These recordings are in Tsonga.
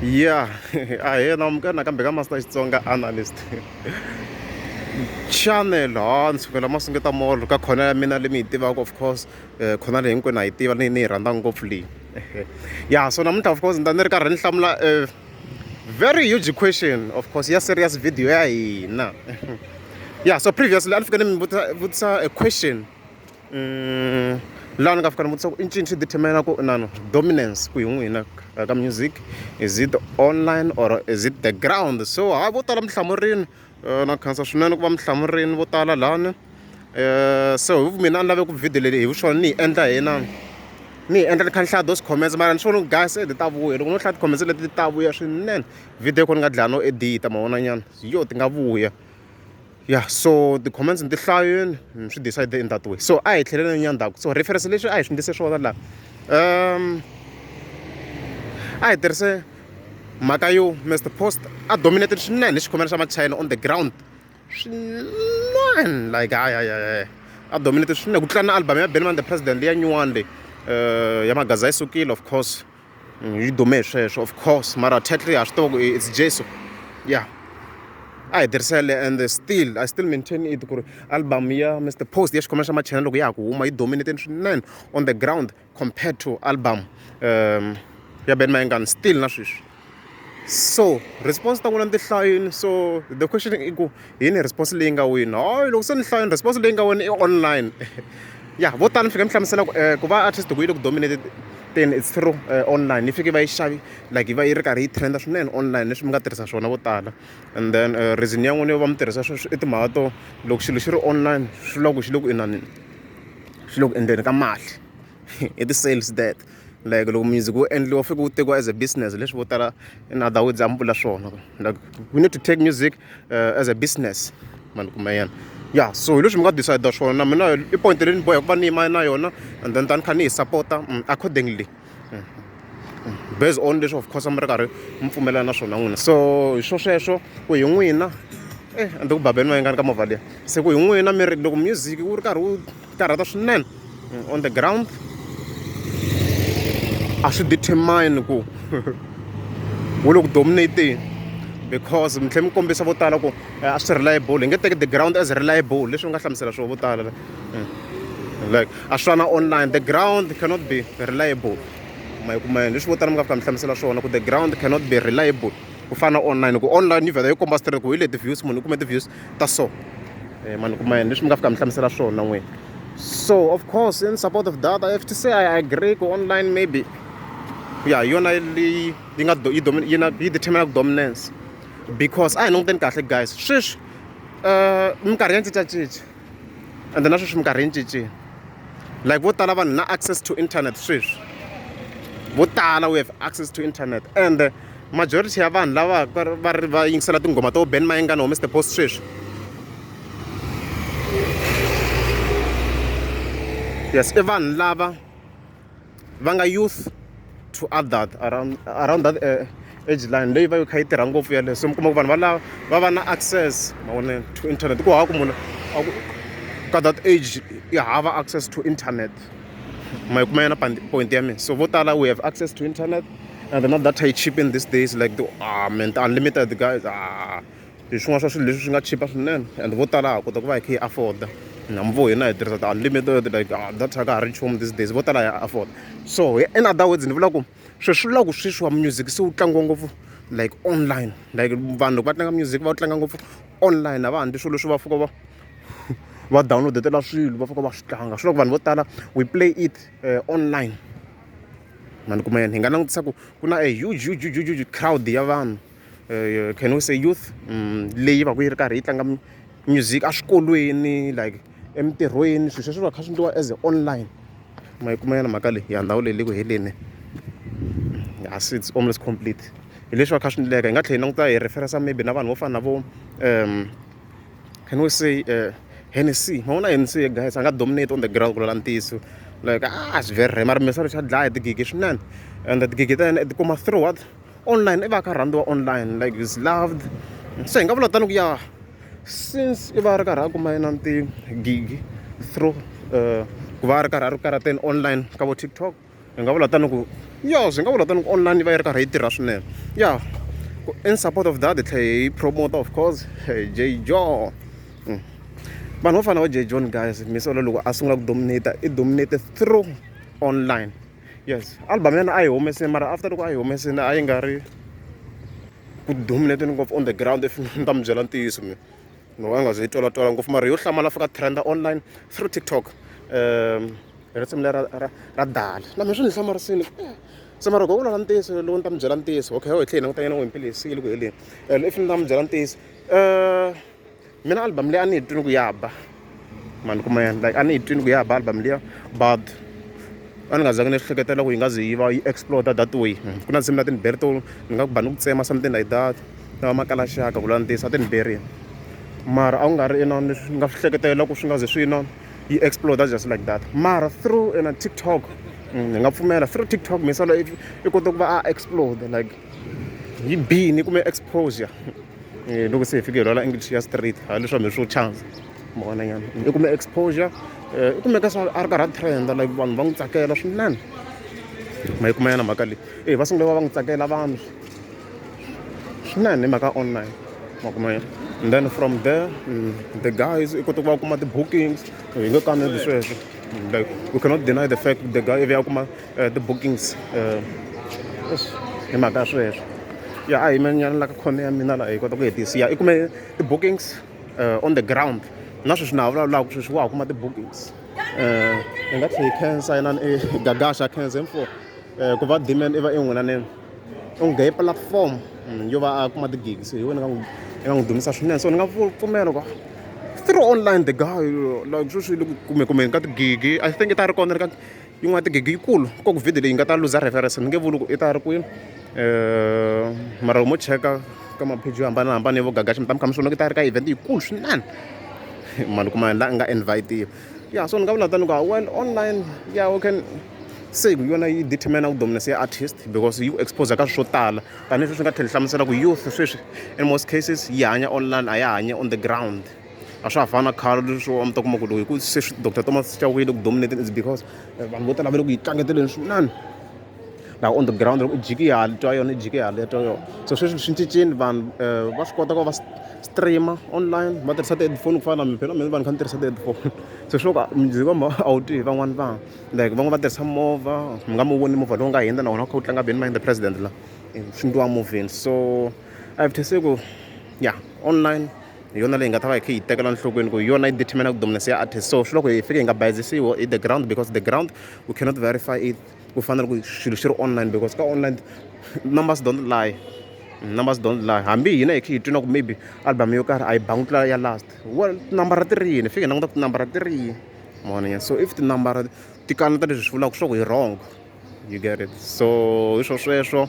ya a hi yena wamukana kambe ka master xitsonga analyst channel ha ni sukela ma sungeta molo ka khona ya mina leyi mi yi tivaka of course um eh, khona leyi hinkwenu a yi tiva ni ni yi rhandza ngopfu leyi ya so namuntlha of course ni ta ni ri karhi ni hlamula um very huge question of course ya serious video ya hina yeah so previously a ni fike ni mi vutisa a question mm, laha ni nga fika ni vutisa ku i ncini swi determina ku inano dominance ku hi n'wina ka music is it online or is it the ground so hayi vo tala mi hlamurini eh, na khansa swinene ku va mi hlamurini vo tala lani eh, so hi mina a ni lave ku video leyi hi vuxona ni yi endla hi na ni hi endla ni kha ni hlaya those comments mara ni swi vona guys edi ta vuya loko no hlaya ti-comments leti ta vuya swinene video ko ni nga dlaya no edita mavonanyana yo ti nga vuya ya so ti-comments ni ti hlayeni ni swi decide in that way so a hi tlheleleni ya ndzhaku so reference leswi a hi swi ndlise swona laha um a hi tirhise mhaka yo mr post a dominated swinene hi xikhomela xa machina on the ground swinene like hayi hayi hayi a dominated swinene ku tlula na album ya benman the president leya nyuwani leyi um ya magaza yi sukile of course mm, yi dume hi sweswo of course mara tatry ha swi tiva ku it's jesu ya a hi tirhisele and still i still maintain it ku ri album ya mr post ya xikhomela xa machena loko ya ha ku huma yi dominated swinene on the ground compared to album um ya ben mayengani still na sweswi so response ta n'wina ni ti hlayini so the question i ku yini response leyi nga wini hayi loko se ni hlayini response leyi nga wini i online ya vo tala ni fike ni hlamusela ku um ku va artist ku yi le ku dominate then it's through uh, online ni fike va yi xavi like va yi ri karhi yi trenda swinene online leswi mi nga tirhisa swona vo tala and then uh, reason ya n'wini yo va mi tirhisa sweswi i timhaka to loko xilo xi ri online swi vula ku xi le ku inanini xi le ku endleni ka mali i ti-sales that like loko music wu endliwa fike wu tekiwa as a business leswi vo tala in other words a mi vula swona like we need to take music uh, as a business mani kuma yena ya so hi leswi mi nga decide swona na mina i point leyi ni boya ku va ni yima na yona and then tani kha ni yi supporta mm, accordingly mm, mm. based on leswi of course mi ri karhi mi pfumelana na swona n'wina so hi swo sweswo ku hi n'wina eh and ku babeni va yingani ka movha liya se ku hi n'wina mi ri loko music wu ri karhi wu ti karhata swinene on the ground a swi determine ku wo le ku dominateni because mi tlhela mi kombisa vo tala ku eh, a swi reliable hi nge teki the ground as reliable leswi mi nga hlamusela swona vo tala eh, like a swi na online the ground cannot be reliable ma yi kuma yini leswi vo tala mi nga fika mi hlamusela swona ku the ground cannot be reliable ku fana online ku online yi vhela yi komba straight ku hi leti views munhu u kume ti-views ta so eh, mani kuma yini leswi mi nga fika mi hlamusela swona n'wini so of course in support of data i have to say i agree ku online maybe ya yona leyi yi nga yi yi na yi determinaka dominance because a hi languteni kahle guys sweswi um minkarhi ya cincacinca ende na sweswi minkarhi yi cincile like vo tala vanhu na access to internet sweswi vo tala we have access to internet and majority ya vanhu lava va ri va yingisela tinghoma to ben mayengana humese the post sweswi yes i vanhu lava va nga youth to adult around around that uh, age line leyi va yo kha yi tirha ngopfu yaleyo so mi kuma ku vanhu valava va va na access mavonelo to internet ku hava ku munhu ka that age yi hava access to internet ma yi kuma yona point ya mina so vo tala we have access to internet and they're not that high cheap in these days like the ah man the unlimited guys ah hi swin'wana swa swilo leswi swi nga chipa swinene and vo tala ha kota ku va hi kha hi afforda namvo hina hi tirhisa ti-unlimited like ah, data ka ha ri nchumu these days vo tala ya afford so in other words ni vula ku sweswi vula ku sweswi wa music se wu tlangiwa ngopfu like online like vanhu loko va tlanga music va wu tlanga ngopfu online a va handli swilo leswi va fika va va downloadetela swilo va fika va swi tlanga swi loko vanhu vo tala we play it uh, online ma ni kuma yini hi nga langutisa ku ku na a huge huge huge huge huge crowd ya vanhu um can we say youth um leyi va ku yi ri karhi yi tlanga music eswikolweni like emintirhweni swilo sweswo va kha swi endliwa as a online ma yi kuma yona mhaka leyi ya ndhawu leyi le ku heleni ya se it's almost complete hi leswi va kha swi endleka hi nga tlhela hi languta hi referensa maybe na vanhu vo fana na vo um can we say uh, Hennessy ma vona Hennessy ye guys a nga dominate on the ground ku lala ntiyiso like ah swi very rare mara misalo xa dlaya tigigi swinene and tigigi ta yena ti kuma through what online i va ka rhandziwa online like is loved so hi nga vula tani ku ya since i va ri karhi a kuma yena tigigi through uh, ku va ri karhi a ri karateni online ka vo tiktok Hi nga vula tani ku ya swi nga vula tani ku online yi va yi ri karhi yi tirha swinene ya in support of that hi tlhela hi promoter of course J John hmm. vanhu vo fana va J John guys misolo loko a sungula ku dominate i dominate through online yes album ya yena a yi humesini mara after loko a yi humesini a yi nga ri ku dominateni ngopfu on the ground if ni ta mi byela ntiyiso mina no a nga ze yi twala twala ngopfu mara yo hlamala fika trenda online through tiktok um hi risimu lera ra ra dala na mina swi ni hlamarisini se mara gogo lava ntiyiso lowu ni ta mi byela ntiyiso okay ho hi tlhe hi langutanyana n'wi mpilisile ku heleni and if ni ta mi byela ntiyiso um mina album leyi a ni yi twini ku ya ba mani kuma yena like a ni yi twini ku ya ba album liya but a ni nga zangi ni hleketela ku yi nga ze yi va yi exploda that way hmm, ku na nsimu na tiniberi to ni nga ku ba ni ku tsema something like that na vamakalaxaka ku lula ntiyiso a tiniberini mara a ku nga ri inani ni nga swi hleketela ku swi nga ze swi inani yi exploder just like that mara through ena tiktok mm, ni nga pfumela through tiktok misala i kota ku va a explode like yi bini kumbe exposure eh, loko se hi fike hi lwala english ya street ha leswaku mi swo chance mona nyana i kume exposure eh, i kumeka swa a ri karhi a trenda like vanhu va n'wi tsakela swinene ma yi kuma yana mhaka leyi e va sungule va va n'wi tsakela vanhu swi na ni mhaka online ma kuma yini and then from there mm, the guys i kota ku va kuma ti-bookings hi nge kaneli sweswo mm, like we cannot deny the fact the guy ivi ya kuma eh, ti-bookings eh, hi mhaka ya sweswo ya a hi menyana la ka khone ya mina laha hi kota ku hetisi ya i kume ti-bookings eh, on the ground na sweswi na ha vulavulaka sweswi wa ha kuma ti-bookings um i nga tlhe yi cancer inani i gagasha cancer info um ku va demand i va en'winaneni u ngheye platform mm, yo va a kuma ti-gigs hi wena eka n'wi dumisa swinene so ni nga pfumela ku through online the guy like sweswi le ku kumekumeni ka tigigi i think i ta ri kona ri ka yin'wana tigigi yikulu ko ku video leyi nga ta luza reference ni nge vuli ku i ta ri kwini um mara mo cheka ka mapheji yo hambanahambana yo vo gagaxa mi ta mi kha mi swona ku ta ri ka event yikulu swinene mali kuma la nga invitiwa ya so ni nga vula tani ku well online ya u can se ku yona yi determina ku dominance ya artist because yi ku expose ka swo tala tanihi sweswi nga tlhela hlamusela ku youth sweswi in most cases yi hanya online a ya hanya on the ground a swa ha fani na khale leswo a mi ta kuma ku loko hi ku se doctor thomas chawile ku dominating is because eh, vanhu vo tala va le ku yi tlangeteleni swinene na on the ground u jiki hali twa yona u jiki hali twa yona so sweswi swi cincile vanhu eh, va swi kota ku va streama online va tirhisa ti-headphone ku fana na mina phela mina vanhu kha ni tirhisa ti-headphone so swo ka music wa a wu twi hi van'wana vanhu like van'wana va tirhisa movha mi nga mi voni movha lowu nga hundza na wona wu kha wu tlanga beni mind the president la swi ndliwa movheni so i have to say ku ya online hi yona leyi nga ta va hi kha yi tekela nhlokweni ku hi yona yi determina ku dominance ya artist so swi loko hi fike hi nga bayizisiwo i the ground because the ground we cannot verify it ku fana na loko swilo swi ri online because ka online numbers don't lie numbers don't lie hambi hina hi kha hi twi na ku maybe album yo karhi a yi bangi tlula ya last wa tinambara ti ri yini fike hi languta ku tinambara ti ri yini mona so if tinambara ti kaneta leswi swi vulaka swa ku hi wrong you get it so hi swo sweswo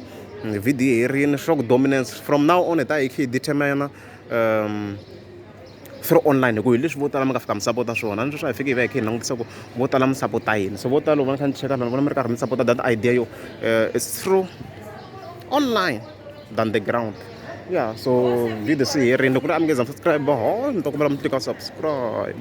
vhidiyo yi rini swa ku dominance from now on hi ta hi kha hi determina um swi ri online hikuva hi leswi vo tala mi nga fika mi sapota swona ni sweswi a hi fiki hi va hi kha hi langutisa ku vo tala mi sapota yini so vo tala loko va ni kha ni cheka ni vona mi ri karhi mi sapota that idea yo um it's true online than the ground ya so video se yi herile loko ni a mi nge za mi subscribe ho ni ta kombela mi tlika subscribe